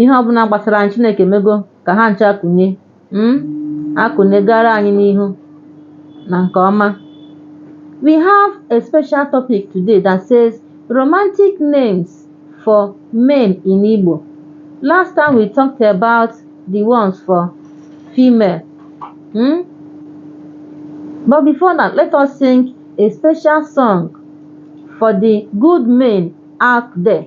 ihe ọbụla gbasara anyị chineke mego ka ha ncha kụnye mm? akụnye gara anyị n'ihu na nke ọma we have a special topic today that says romantic names for men in igbo last time we talked about the ones for female mm? but before that let us sing a special song for the good men out there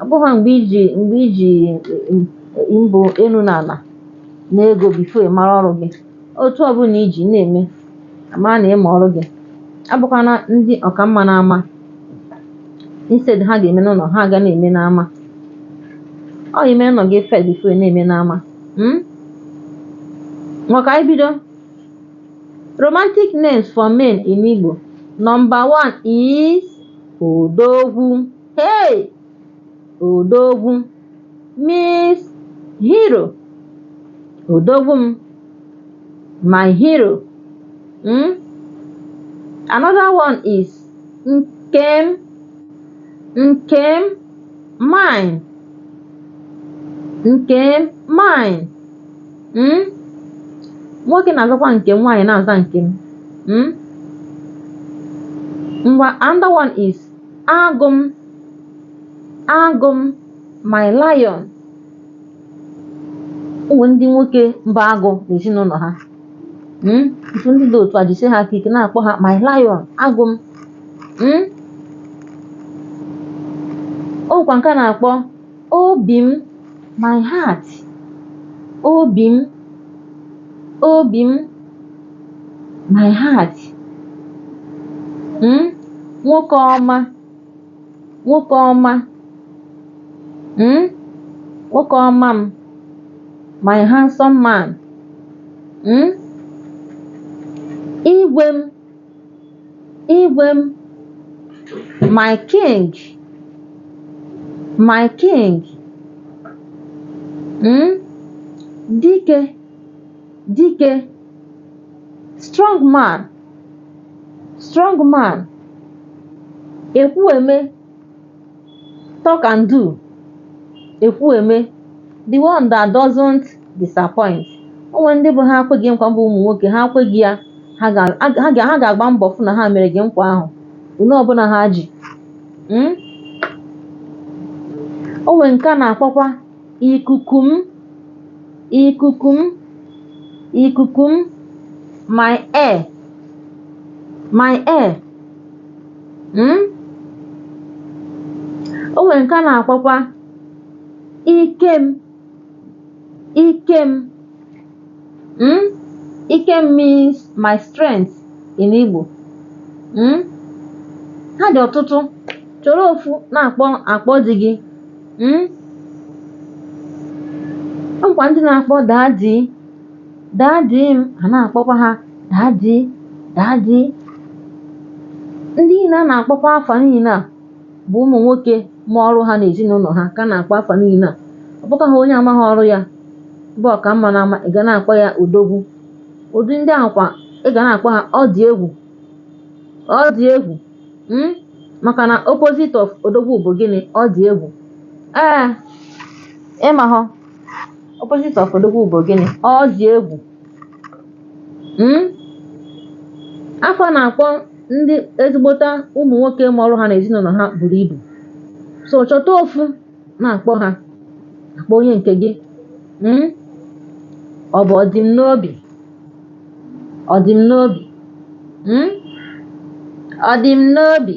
ọ bụghị mgbe iji mgbe iji mbụ elu na ala na ego before ị mara ọrụ gị otu ọ bụla i ji na-eme a mara na ị ma ọrụ gị abụkwana ndị ọkamma n'ama instead ha ga-eme n'ụlọ ha ga na-eme n'ama ọ ime ụnọ gị first before ị na-eme n'ama mm? Ngwa ka anyị bido romantic names for men in Igbo number one is Odogwu hey Odogwu means hero Odogwu m my hero mm? another one is nkem nkem mine nkem mine mm? nwoke na-azakwa nke m nwaanyị na-aza nke m mm? ngwa another one is agụ m agụ m my lion o nwee ndị nwoke bụ agụ n'ezinụlọ ha mm? otu ndị dị otu a jisi ha aka ike na-akpọ ha my lion agụ m mm? o nwekwa nke a na-akpọ Obi m, my heart. Obi m, obi m, my heart. Mm? Nwoke ọma, nwoke ọma. Mm? Nwoke ọma m, my handsome man. Mm? Igwe m, Igwe m, my king, my king, mm? dike, dike, strong man, strong man, ekwueme, talk and do ekwu eme the one that doesn't disappoint o nwere ndị bụ ha kwe gị nkwa bụ ụmụ nwoke ha kwe gị ya ha ga- ha ga- ha ga-agba mbọ fụ na ha mere gị nkwa ahụ ole ọbụla ha ji Mm? o nwere nke a na-akpọkwa ikuku m ikuku m ikuku m my air my air mm? o nwere nke a na-akpọkwa ike m ike m mm? ike m means my strength in Igbo mm? ha dị ọtụtụ chọrọ ofu na-akpọ akpọ di gị mm? o nwekwa ndị na-akpọ daddy daddy a na-akpọkwa ha daddy daddy ndị niile a na-akpọkwa afa niile a bụ ụmụ nwoke ma ọrụ ha na ezinụlọ ha ka a na-akpọ afa niile a ọ bụkwaha onye amaghị ọrụ ya bụ ọka mma na ama ị ga na-akpọ ya odogwu ụdị ndị ahụ kwa ị ga na-akpọ ha ọ dị egwu ọ dị egwu mm? maka na opposite of odogwu bụ gịnị ọ dị egwu ee ịmahọ opposite of odogwu bụ gịnị ọ dị egwu Mm? afa a na-akpọ ndị ezigbota ụmụ nwoke ma ọrụ ha na ezinụlọ ha buru ibu so chọta ofu na-akpọ ha akpọ onye nke gị Mm? ọ bụ ọdịm n'obi ọdịm n'obi Mm? ọdịm n'obi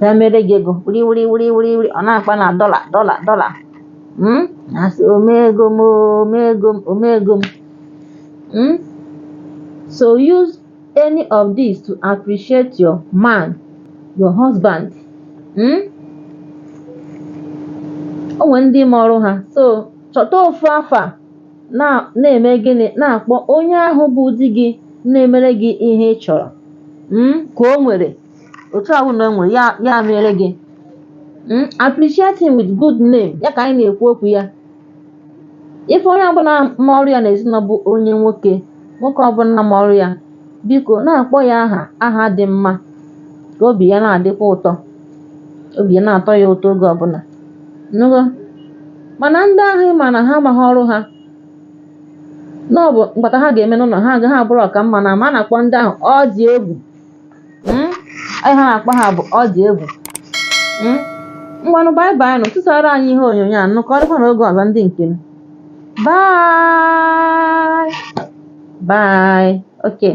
ya mere gị ego wuri wuri wuri wuri wuri ọ na-akpa na dollar dollar dollar Mm? na-asị omego m omego m omego m Mm? so use any of these to appreciate your man your husband Mm? o nwere ndị ma ọrụ ha so chọta ofu afa na na-eme gịnị na-akpọ onye ahụ bụ di gị na-emere gị ihe ị chọrọ mm, ka o nwere otu ahụ na o nwere ya ya mere gị mm, appreciate him with good name ya ka anyị na-ekwu okwu ya ife onye ọbụla ma ọrụ ya n'ezinụlọ bụ onye nwoke nwoke ọbụla ma ọrụ ya biko na-akpọ ya aha aha dị mma ka obi ya na-adịkwa ụtọ obi na-atọ ya ụtọ oge ọbụla nụgo mana ndị ahụ ị ma na ha amaghị ọrụ ha na ọ bụ mkpata ha ga-eme n'ụlọ ha agaa bụrụ ọka mma na ama a na-akpọ ndị ahụ ọ dị egwu Mm? Aha a na-akpọ ha bụ ọ dị egwu Mm? ngwanụ bye bye nụ tụsara anyị ihe onyonyo a nụkọrịkwa na oge ọzọ ndị nke m bye bye okay